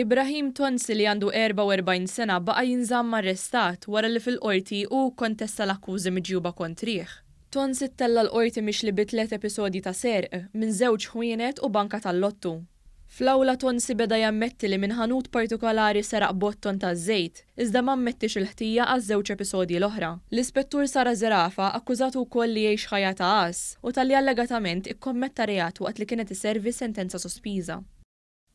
Ibrahim Tonsi li għandu 44 sena baqa' jinżamm arrestat wara li fil-Qorti hu kkontesta l-akkużi miġjuba kontrih. Tonsi ttella' l-Qorti mixli bi tliet episodji ta' serq minn żewġ ħwienet u banka tal-lottu. Fl-awla Tonsi beda jammetti li minn ħanut partikolari seraq botton ta' żejt, iżda ma ammettiex il-ħtija għaż-żewġ episodji l-oħra. L-Ispettur Sara Zerafa akkużatu wkoll li jgħix ħajja ta' għaż u talli allegatament ikkommetta reat waqt li kienet iservi sentenza sospiża.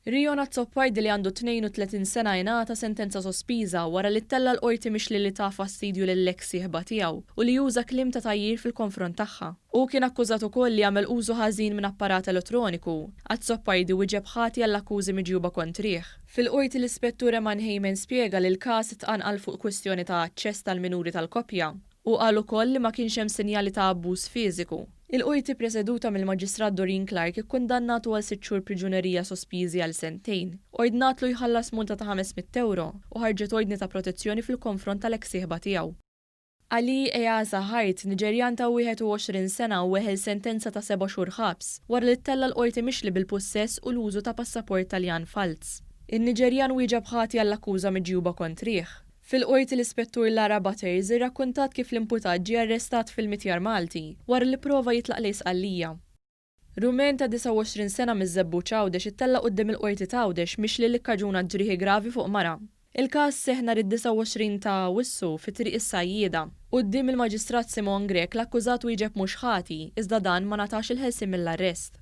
Rion Azzopardi li għandu 32 sena ingħata sentenza sospiża wara li ttella' l-Qorti mixli li ta fastidju lill-eks sieħba tiegħu u li uża kliem ta' tgħajjir fil-konfront tagħha. Hu kien akkużat ukoll li għamel użu ħażin minn apparat elettroniku Azzopardi wieġeb ħati għall-akkużi miġjuba kontrih. Fil-Qorti l-Ispettur Eman Heyman spjega li l-każ tqanqal fuq kwistjoni ta' aċċess tal-minuri tal-koppja. Hu qal ukoll li ma kienx hemm sinjali ta' abbuż fiżiku. Il-Qorti preseduta mill-Maġistrat Doreen Clarke ikkundannatu għal sitt xhur priġunerija sospiżi għal sentejn, ordnatlu jħallas multa ta' ħames mitt ewro u ħarġet ordni ta' protezzjoni fil-konfront tal-eks sieħba tiegħu. Ali Easa Hart, Niġerjan ta' 21 sena weħel sentenza ta' seba' xhur ħabs wara li ttella' l-Qorti mixli bil-pussess u l-użu ta' passaport Taljan falz. In-Niġerjan wieġeb ħati għall-akkuża miġjuba kontrih. Fil-Qorti l-Ispettur Lara Butters irrakkuntat kif l-imputat ġie arrestat fil-Mitjar Malti wara li pprova jitlaq lejn Sqallija. Rumen ta' 29 sena miż-Żebbuġ Għawdex ittella' quddiem il-Qorti t'Għawdex mixli li kkaġuna ġrieħi gravi fuq mara. Il-każ seħħ nhar id-29 ta' Awwissu fi Triq is-Sajjieda. Quddiem il-Maġistrat Simone Grech l-akkużat wieġeb mhux ħati, iżda dan ma ngħatax il-ħelsien mill-arrest.